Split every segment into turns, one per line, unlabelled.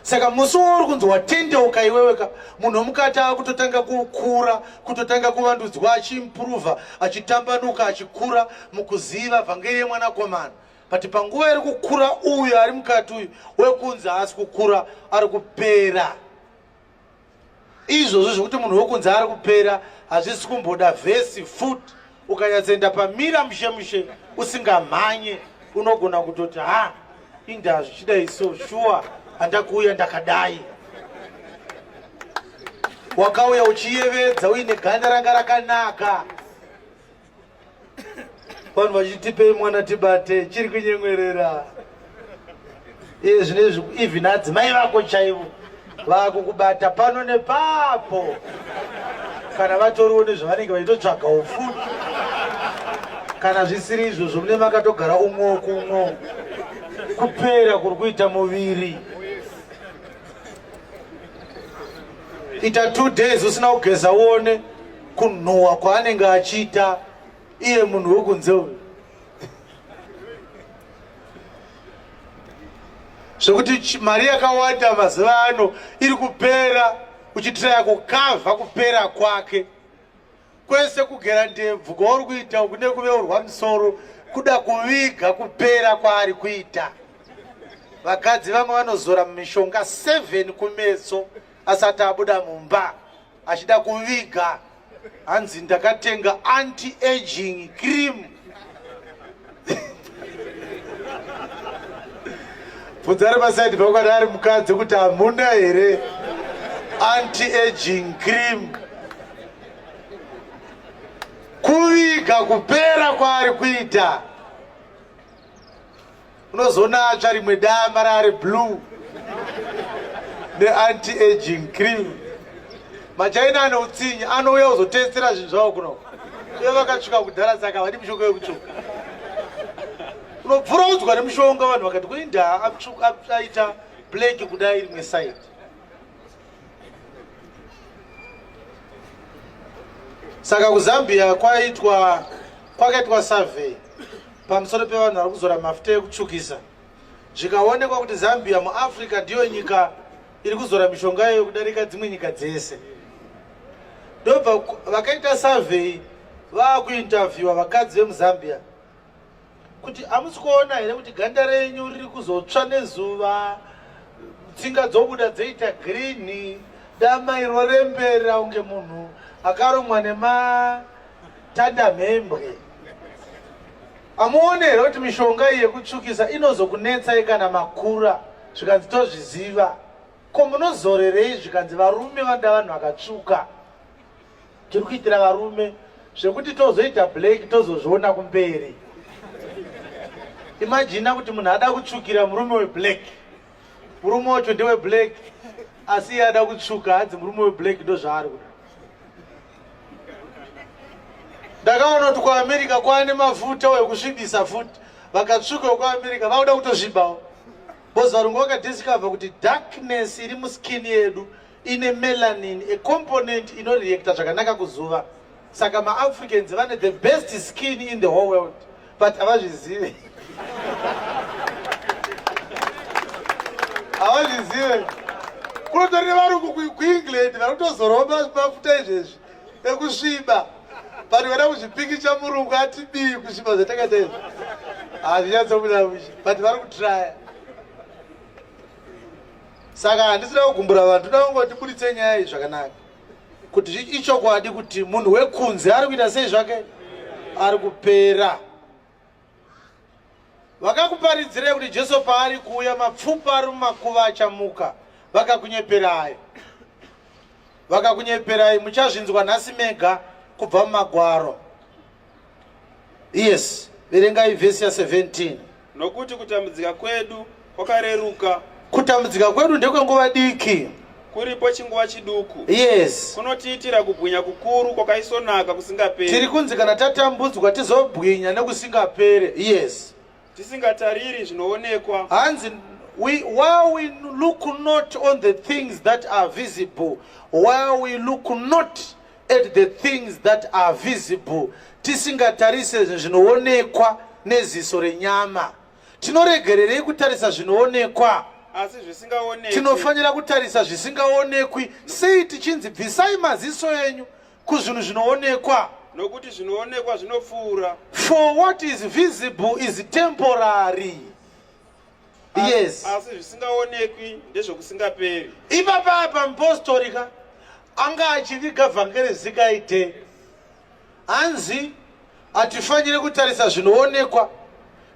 saka musi wauri kunzi watendeuka iweweka munhu wemukati akutotanga kukura kutotanga kuvandudzwa achiimprova achitambanuka achikura mukuziva vhangeri yemwanakomana but panguva iri kukura uyu ari mukati uyu wekunzi haasi kukura ari kupera izvozvo zvekuti munhu wekunze ari kupera hazvisi kumboda vhesi fut ukanyatsoenda pamira mushe mushe usingamhanye unogona kutoti ha indaa zvichidai so shuwa handakuuya ndakadai wakauya uchiyevedza uine ganda ranga rakanaka vanhu vachitipei mwana tibate chiri kunyemwerera iye zvine izvi even adzimai vako chaivo vakukubata pano nepapo kana vatoriwo nezvavanenge vaitotsvaga ufu kana zvisiri izvozvo mune makatogara umwo kumwo kupera kuri kuita muviri ita two days usina kugeza uone kunhuwa kwaanenge achiita iye munhu wekunze uyu zvekuti mari yakawanda mazuva ano iri kupera uchitiraya kukavha kupera kwake kwese kugera ndebvu kwauri kuita kune kuveurwa musoro kuda kuviga kupera kwaari kuita vakadzi vamwe vanozora mumishonga 7 kumeso asati abuda mumba achida kuviga hanzi ndakatenga anti aging cream bvunza ari pasaidi pakwadi ari mukadzi kuti hamuna here anti aging cream kuviga kupera kwaari kuita unozoona atsva rimwe dama raari blue neanti aging cream machaina ane utsinye anouya kuzotestera zvinhu zvavo kuno uye vakatsvuka kudhara saka vadi mushonga wekutsvuka unobvura udzwa nemushonga vanhu vakati kuindaa aita black kudai rimwe side saka kuzambia kwaitwa kwakaitwa survey pamusoro pevanhu vari kuzora mafuta ekutsvukisa zvikaonekwa kuti zambia muafrica ndiyo nyika iri kuzora mishonga iyoyo kudarika dzimwe nyika dzese ndobva vakaita survey vaakuinterviewa vakadzi vemuzambia kuti hamusi kuona here kuti ganda renyu riri kuzotsva nezuva tsinga dzobuda dzoita girini dama iro rembera unge munhu akaromwa nematandamhembwe hamuone here kuti mishonga iyi yekutsvukisa inozokunetsai kana makura zvikanzi tozviziva ko munozorerei zvikanzi varume vanda vanhu vakatsvuka tiri kuitira varume zvekuti tozoita black tozozviona kumberi imajina kuti munhu ada kutsvukira murume weblack murume wacho ndeweblack asi iye ada kutsvuka hanzi murume weblack ndozvaari kuda ndakaona kuti kuamerica kwaane mafuta wekusvibisa futi vakatsvuka wekuamerica vakuda kutozvibawo bcause varungu vakadiscover kuti darkness iri muskin yedu ine melanin a component inoreacta zvakanaka kuzuva saka maafricans vane the best skin in the whole world but havazvizive havazvizive kunotori nevarungu kuengland vari kutozoromba mafuta izvezvi ekusviba but vada kuzvipikicha murungu ati bii kusviba zvatakaita izvi hazvinyatsobuda but vari kutraya saka handisina kugumbura vanhu toda kungoti buditse nyaya iyi zvakanaka kuti ichokwadi kuti munhu wekunze ari kuita sei zvake ari kupera vakakuparidzirei kuti jesu paari kuuya mapfupa ari mumakuva achamuka vakakunyeperai vakakunyeperai muchazvinzwa nhasi mega kubva mumagwaro yes verengai vhesi ya 17 nokuti kutambudzika
kwedu kwakareruka kutambudzika
kwedu ndekwenguva diki kuripo chinguva
chiduku yes kunotiitira
kubwinya
kukuru kwakaisonaka kusingaperi tiri kunzi kana
tatambudzwa tizobwinya nekusingapere yes tisingatariri
zvinoonekwa hanzi
we, while we look not on the things that are visible while we look not at the things that are visible tisingatarise zvinoonekwa neziso renyama tinoregererei kutarisa zvinoonekwa
asi zvisingaonekwi tinofanira kutarisa
zvisingaonekwi sei tichinzi bvisai maziso enyu kuzvinhu zvinoonekwa nokuti zvinoonekwa
zvinopfuura for what is
visible is temporary yes asi
zvisingaonekwi ndezvokusingaperi ipapaya
pamupostori ka anga achiviga vhangeri zikaite hanzi hatifanire kutarisa zvinoonekwa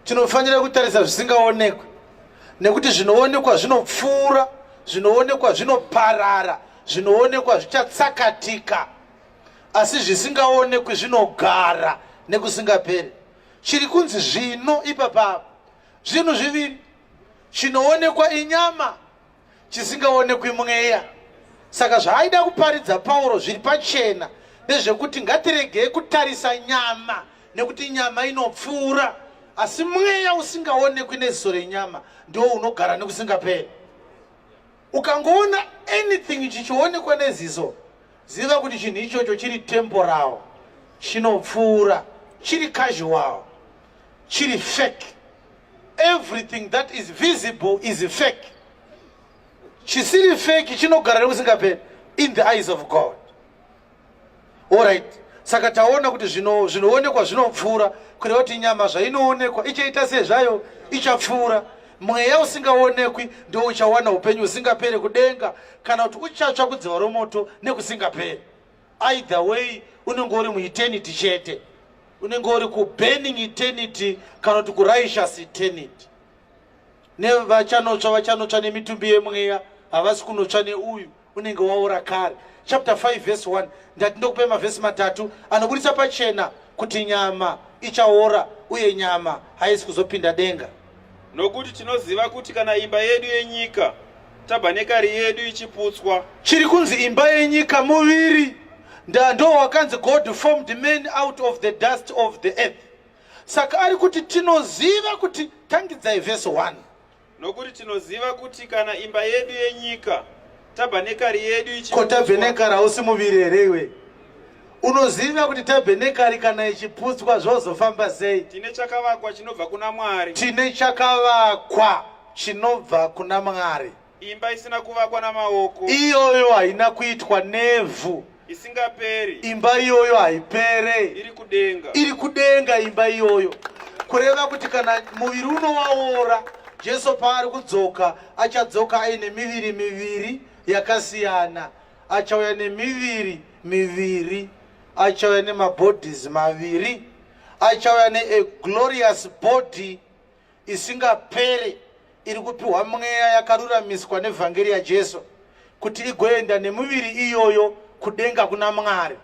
tinofanira kutarisa zvisingaonekwi nekuti zvinoonekwa zvinopfuura zvinoonekwa zvinoparara zvinoonekwa zvichatsakatika asi zvisingaonekwi zvinogara nekusingaperi chiri kunzi zvino ipapapa Zvinhu zviviri, chinoonekwa inyama, chisingaonekwi mweya. Saka zvaaida kuparidza Pauro zviri pachena ndezvekuti ngatiregei kutarisa nyama nekuti nyama inopfuura, asi mweya usingaonekwi neziso renyama ndiwo unogara nekusingaperi. Ukangoona anything chichionekwa neziso, ziva kuti chinhu ichocho chiri temporal, chinopfuura, chiri casual, chiri fake. Everything that is visible is fake. Chisiri fake chinogara nekusingaperi in the eyes of God. Alright. Saka taona kuti zvino zvinoonekwa zvinopfuura kureva kuti nyama zvainoonekwa ichaita sezvayo ichapfuura mweya usingaonekwi ndo uchawana upenyu usingapere kudenga kana kuti uchatsva kudziva romoto nekusingapere either way unenge uri mueternity chete unenge uri kuburning eternity kana kuti kurighteous eternity nevachanotsva vachanotsva nemitumbi yemweya havasi kunotsva neuyu unenge waora kare chapter 5 verse 1 ndati ndokupe mavhesi matatu anoburitsa pachena kuti nyama ichaora uye nyama haisi kuzopinda denga nokuti
tinoziva kuti kana imba yedu yenyika tabhanekari yedu ichiputswa chiri kunzi imba
yenyika muviri ndando wakanzi god formed man out of the dust of the earth saka ari kuti tinoziva kuti tangidzai vhesi 1 Nokuti
tinoziva kuti kana imba yedu yenyika, tabhenekari yedu ichi... Ko tabhenekari hausi
muviri here iwe? Unoziva kuti tabhenekari kana ichiputswa zvozofamba sei? Tine chakavakwa
chinobva kuna Mwari. Tine chakavakwa
chinobva kuna Mwari. Imba isina
kuvakwa namaoko. Iyoyo haina
kuitwa nevhu. isingaperi
imba iyoyo
haipere iri kudenga
iri kudenga
imba iyoyo kureva kuti kana muviri uno waora jesu paari kudzoka achadzoka aine miviri miviri yakasiyana achauya nemiviri miviri achauya nemabodies maviri achauya neaglorious body isingaperi iri kupiwa mweya yakaruramiswa nevhangeri yaJesu kuti igoenda nemuviri iyoyo kudenga kuna Mwari.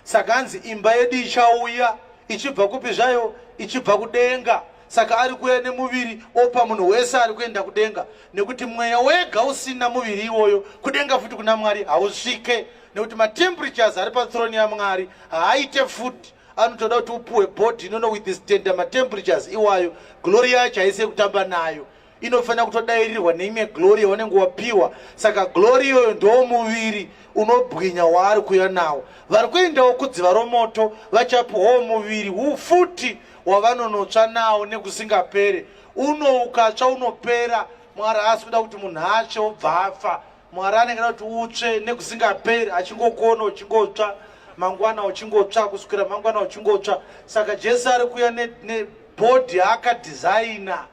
Saka hanzi imba yedu ichauya ichibva kupi zvayo? Ichibva kudenga. Saka ari kuuya nemuviri opa munhu wese ari kuenda kudenga, nekuti mweya wega usina muviri iwoyo kudenga futi kuna Mwari hausvike, nekuti matemperatures ari pathrone yaMwari haaite futi anotoda kuti upuwe body inono with standard matemperatures iwayo glory yacho haisi yekutamba nayo inofanira kutodairirwa neimwe glory yaunenge wapiwa saka glory iyoyo ndoo muviri unobwinya waari kuya nawo vari kuendawo kudziva romoto vachapiwawo muviri ufuti wavanonotsva nawo nekusingapere uno ukatsva unopera mwari haasi kuda kuti munhu atsve obva afa Mwari anenge ada kuti utsve nekusingaperi achingokona uchingotsva mangwana uchingotsva kusukira mangwana uchingotsva saka Jesu ari kuya nebhodhi ne akadhizaina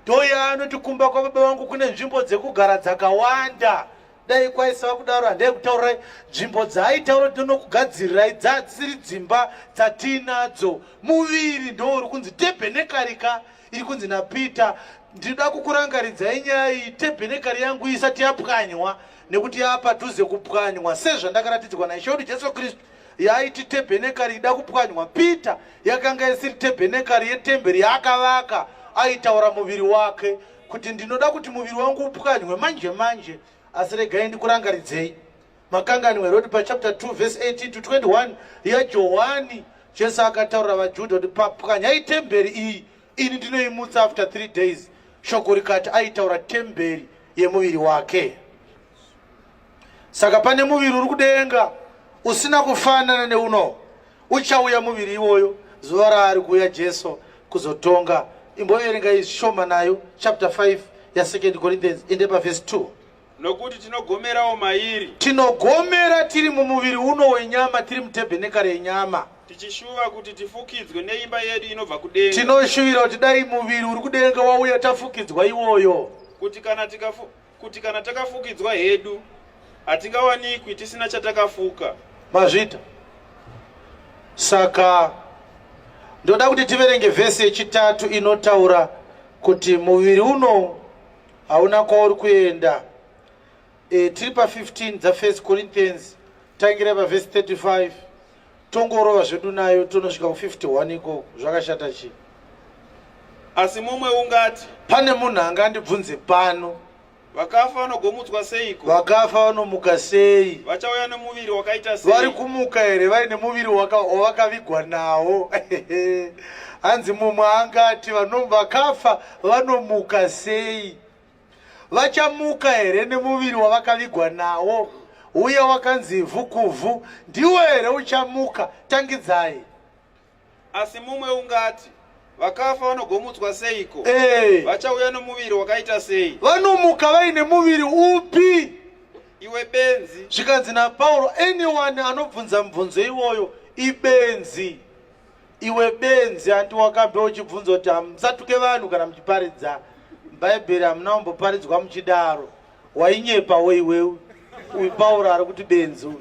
ndoya anoti kumba kwababa vangu kune nzvimbo dzekugara dzakawanda dai kwaisava kudaro handai kutaurai nzvimbo dzaaitaura ndinokugadzirirai dzadzisiri dzimba dzatiinadzo muviri ndouri kunzi tebhenekarika iri kunzi napeter ndinoda kukurangaridzai nyaya iyi tebhenekari yangu isati yapwanywa nekuti yava padhuze kupwanywa sezvandakaratidzwa naishe wedu jesu kristu yaiti tebhenekari ida kupwanywa peter yakanga isiri tebhenekari yetemberi yaakavaka aitaura muviri wake kuti ndinoda kuti muviri wangu upwanywe manje manje asi regai ndikurangaridzei Makanganwe roti pachapter 2 verse 18 to 21 yaJohwani, Jesu akataurira vaJudha kuti papwanyai temberi iyi, ini ndinoimutsa after three days. Shoko rikati aitaura temberi yemuviri wake. Saka pane muviri uri kudenga usina kufanana neuno, uchauya muviri iwoyo zuva raari kuuya Jesu kuzotonga. Imboverengai zvishoma nayo chapter 5 yaSecond Corinthians inde pavhesi 2. Nokuti
tinogomerawo mairi. Tinogomera
tiri mumuviri uno wenyama, tiri mutebhenekari yenyama. Tichishuva kuti
tifukidzwe neimba yedu inobva kudenga. Tinoshuvira kuti dai
muviri uri kudenga wauya tafukidzwa iwoyo. Kuti kana tikafu,
kuti kana takafukidzwa hedu hatingawanikwi tisina chatakafuka. Mazvita.
Saka ndoda kuti tiverenge vhesi yechitatu inotaura kuti muviri uno hauna kwauri kuenda e, tiri pa 15 dzafirst corinthians tangira pavhesi 35 tongorova zvedu nayo tonosvika ku 51 ikoko zvakashata chii
asi mumwe ungati pane munhu anga
andibvunze pano vakafa
vanogomutswa seiko vakafa vanomuka
sei vachauya nemuviri
wakaita sei vari kumuka here vari
nemuviri wavakavigwa nawo hanzi mumwe angati vakafa vanomuka sei vachamuka here nemuviri wavakavigwa nawo uye wakanzi ivhu kuvhu ndiwo here uchamuka tangidzai
asi mumwe ungati vakafa vanogomutswa seiko hey. Eh. vachauya nomuviri wakaita sei vanomuka vaine
muviri upi iwe
benzi zvikanzi napauro
anyone anobvunza mubvunzo iwoyo ibenzi Iwe benzi hanti wakambe uchibvunza kuti hamusatuke vanhu kana muchiparidza bhaibheri hamuna kumboparidzwa muchidaro wainyepawo iwewe uyu pauro ari kuti benzi uyu